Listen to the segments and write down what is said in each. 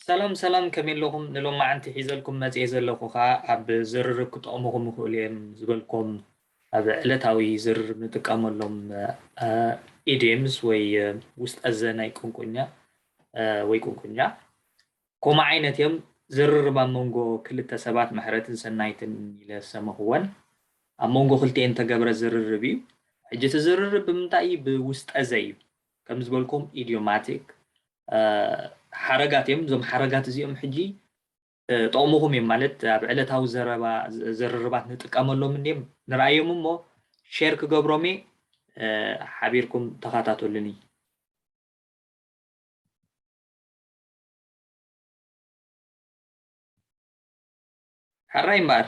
ሰላም ሰላም ከመይ ኣለኹም ንሎማዓንቲ ሒዘልኩም መፅኤ ዘለኹ ከዓ ኣብ ዝርርብ ክጠቕሙኹም ይኽእሉ እዮም ዝበልኮም ኣብ ዕለታዊ ዝርርብ ንጥቀመሎም ኢድምስ ወይ ውስጥ ኣዘ ናይ ቁንቁኛ ወይ ቁንቁኛ ኮማ ዓይነት እዮም ዝርርብ ኣብ መንጎ ክልተ ሰባት ምሕረትን ሰናይትን ኢለ ሰመኽወን ኣብ መንጎ ክልቲኤን ተገብረ ዝርርብ እዩ ሕጂ እቲ ዝርርብ ብምንታይ እዩ ብውስጠ ዘ እዩ ከም ዝበልኩም ኢድዮማቲክ ሓረጋት እዮም። እዞም ሓረጋት እዚኦም ሕጂ ጠቕሙኹም እዮም ማለት ኣብ ዕለታዊ ዘረባ ዝርርባት ንጥቀመሎም እንዲም ንርኣዮም እሞ ሼር ክገብሮም እየ ሓቢርኩም ተኸታተሉኒ። ሕራይ እምበኣር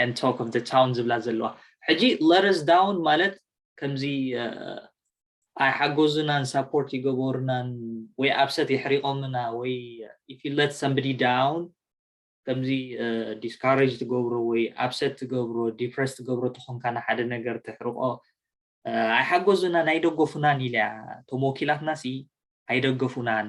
and talk of the town ዝብላ ዘለዋ ሕጂ let us down ማለት ከምዚ ኣይሓጎዙናን ሳፖርት ይገበሩናን ወይ ኣብሰት የሕሪቆምና ወይ if you let somebody down ከምዚ ዲስካሬጅ ትገብሮ ወይ ኣብሰት ትገብሮ ዲፕረስ ትገብሮ ተኾንካ ንሓደ ነገር ተሕርቆ ኣይሓጎዙናን ኣይደገፉናን ኢልያ እቶም ወኪላትና ሲ ኣይደገፉናን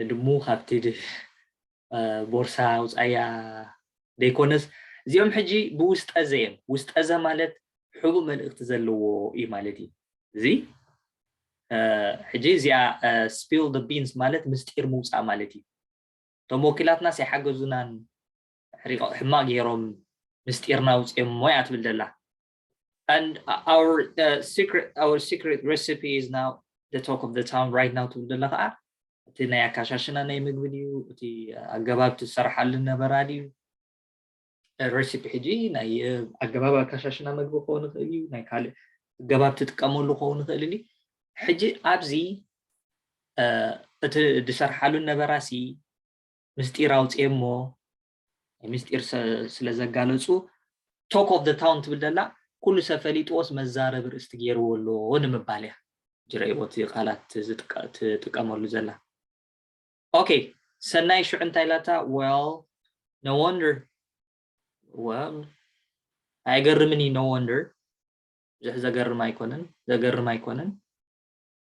ንድሙ ካብቲ ቦርሳ ኣውጻያ ደይኮነስ እዚኦም ሕጂ ብውስጠዘ እዮም ውስጠዘ ማለት ሕቡእ መልእክቲ ዘለዎ እዩ ማለት እዩ እዚ ሕጂ እዚኣ ስፒል ደ ቢንስ ማለት ምስጢር ምውፃእ ማለት እዩ እቶም ወኪላትናስ ኣይሓገዙናን ሕማቅ ገይሮም ምስጢርና ውፅኦም ሞያ ትብል ዘላ and our uh, secret our secret recipe is now the talk of the town right now ትብል ደለ ከዓ እቲ ናይ ኣካሻሽና ናይ ምግቢ ድዩ እቲ ኣገባብ ትሰርሓሉ ነበራ ድዩ ረሲፒ ሕጂ ናይ ኣገባብ ኣካሻሽና ምግቢ ክኸውን ይኽእል እዩ ናይ ካልእ ገባብ ትጥቀመሉ ክኸውን ይኽእል እዩ ሕጂ ኣብዚ እቲ ዝሰርሓሉ ነበራሲ ምስጢር ኣውፅኤ እሞ ምስጢር ስለ ዘጋለጹ ቶክ ኦፍ ታውን ትብል ደላ ኩሉ ሰብ ፈሊጥዎስ መዛረቢ ርእስቲ ገይርዎ ኣሎ ንምባል እያ ጅረይዎ እቲ ቃላት ትጥቀመሉ ዘላ ኦኬ ሰናይ ሽዑ እንታይ ላታ ወል ኖ ወንደር ወል ኣይገርምን እዩ ኖ ወንደር ብዙሕ ዘገርም ኣይኮነን ዘገርም ኣይኮነን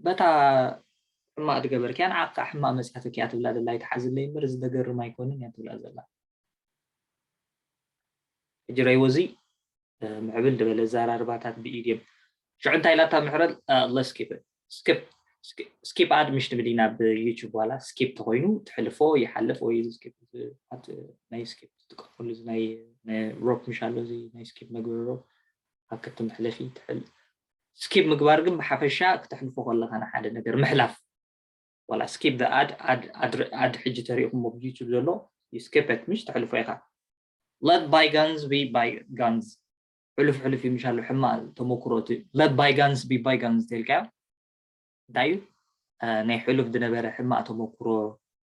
በታ ሕማቅ ድገበርክያ ንዓኪ ከኣ ሕማቅ መጽያትኪ እያ ትብላ ዘላ ኣይትሓዝለይ እምበር እዚ ደገርም ኣይኮንን እያ ትብላ ዘላ ሕጂ ረይዎ እዚ ምዕብል ድበለ ኣዘራርባታት ብኢድም ሽዑ እንታይ ኢላታ ምሕረል ለስ ኪፕ ስኪፕ ስኪፕ ኣድ ምሽ ትብል ኢና ብዩቱብ ዋላ ስኪፕ ተኮይኑ ትሕልፎ ይሓልፍ ወይ እዚ ስኪፕ ናይ ስኪፕ ትጥቀመሉ እዚ ናይ ሮፕ ምሽ ኣሎ እዚ ናይ ስኪፕ መግበሪ ሮፕ ኣክቲ መሕለፊ ትሕልፍ ስኪብ ምግባር ግን ብሓፈሻ ክተሕልፎ ከለካ ንሓደ ነገር ምሕላፍ ዋላ ስኪብ ዘ ኣድ ኣድ ኣድ ሕጂ ተሪኢኩሞ ብ ዩቱብ ዘሎ ዩ ስኪፕ ኢት ምሽ ተሕልፎ ኢካ ለት ባይጋንስ ቢ ባይጋንስ ሕሉፍ ሕሉፍ ዩ ምሽ ኣሎ ሕማቅ ተመኩሮ እቲ ለት ባይጋንስ ቢ ባይጋንስ ተልካዮ እንታይ ዩ ናይ ሕሉፍ ዝነበረ ሕማቅ ተመኩሮ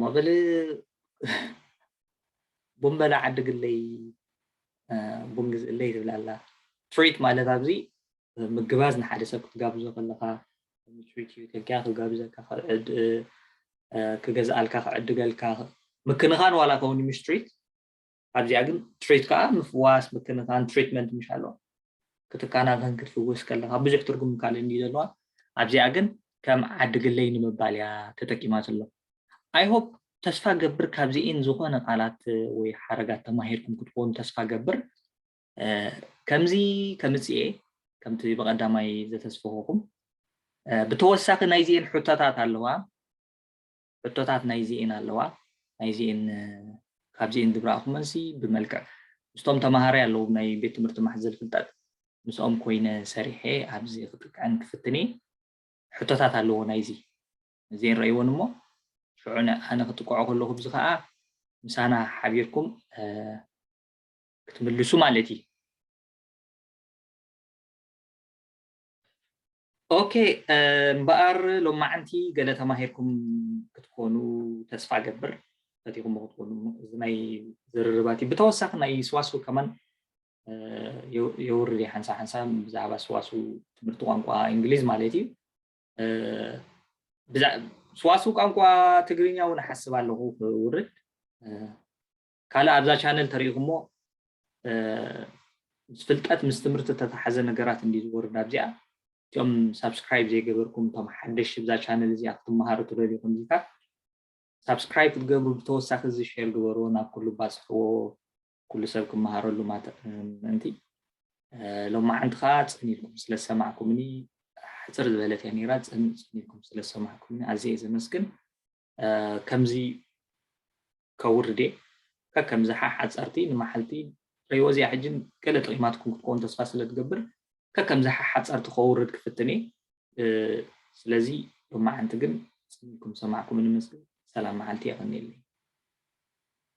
መቐለ ቡን በላ ዓዲ ግለይ ቡን ግዝእለይ ትብል ኣላ። ትሪት ማለት ኣብዚ ምግባዝ ንሓደ ሰብ ክትጋብዞ ከለኻ ትሪት ዩ ኢልካ ክጋብዘካ ክገዝኣልካ ክዕድገልካ ምክንኻን ዋላ ከውን ምስ ትሪት ኣብዚኣ ግን ትሪት ከዓ ምፍዋስ ምክንኻን ትሪትመንት ምሽ ኣለዋ ክትካናኸን ክትፍውስ ከለኻ ብዙሕ ትርጉም ካልእ እንዲ ዘለዋ ኣብዚኣ ግን ከም ዓዲ ግለይ ንምባል እያ ተጠቂማ ዘሎ ኣይሆፕ ተስፋ ገብር ካብዚኢን ዝኾነ ቃላት ወይ ሓረጋት ተማሂርኩም ክትኾኑ ተስፋ ገብር ከምዚ ከምፅኤ ከምቲ ብቐዳማይ ዘተስፈኹኹም ብተወሳኺ ናይዚኤን ሕቶታት ኣለዋ ሕቶታት ናይዚኤን ኣለዋ ናይዚኤን ካብዚኤን ዝብራኣኹ መልሲ ብመልክዕ ምስቶም ተማሃራይ ኣለዉ ናይ ቤት ትምህርቲ ማሕዘል ፍልጠት ምስኦም ኮይነ ሰሪሐ ኣብዚ ክጥቅዐን ክፍትን እየ ሕቶታት ኣለዎ ናይዚ እዚኤን ረእይዎን እሞ ሽዑ ኣነ ክጥቅዖ ከለኹ ብዚ ከዓ ምሳና ሓቢርኩም ክትምልሱ ማለት እዩ ኦኬ እምበኣር ሎማዕንቲ ገለ ተማሂርኩም ክትኮኑ ተስፋ እገብር ፈቲኹሞ ክትኮኑ እዚ ናይ ዝርርባት እዩ ብተወሳኺ ናይ ስዋስው ከማን የውርድ ሓንሳ ሓንሳ ብዛዕባ ስዋሱ ትምህርቲ ቋንቋ እንግሊዝ ማለት እዩ ስዋሱ ቋንቋ ትግርኛ እውን ሓስብ ኣለኹ ክውርድ ካልእ ኣብዛ ቻነል ተሪኢኹሞ ምስ ፍልጠት ምስ ትምህርቲ ተተሓዘ ነገራት እንዲ ዝወርድ ኣብዚኣ እቲኦም ሳብስክራይብ ዘይገበርኩም እቶም ሓደሽ እዛ ቻነል እዚኣ ክትመሃሩ ትደልዩ ከምዚካ ሳብስክራይብ ክትገብሩ ብተወሳኺ እዚ ሸር ግበሩ ናብ ኩሉ ባፅሕዎ ኩሉ ሰብ ክመሃረሉ ምእንቲ ሎማዓንቲ ከዓ ፅን ኢልኩም ስለዝሰማዕኩምኒ ሕፅር ዝበለት እያ ነይራ ፅን ኢልኩም ስለዝሰማዕኩምኒ ኣዝየ ዘመስግን ከምዚ ከውርድ እየ ከከም ዝሓ ሓጸርቲ ንመሓልቲ ረይዎ እዚኣ ሕጂ ገለ ጥቂማትኩም ክትከውን ተስፋ ስለ ትገብር ከከም ዝሓ ሓጸርቲ ከውርድ ክፍትን እየ ስለዚ ሎማዓንቲ ግን ጽን ኢልኩም ዝሰማዕኩምኒ መስል ሰላም መዓልቲ የቀንየለይ።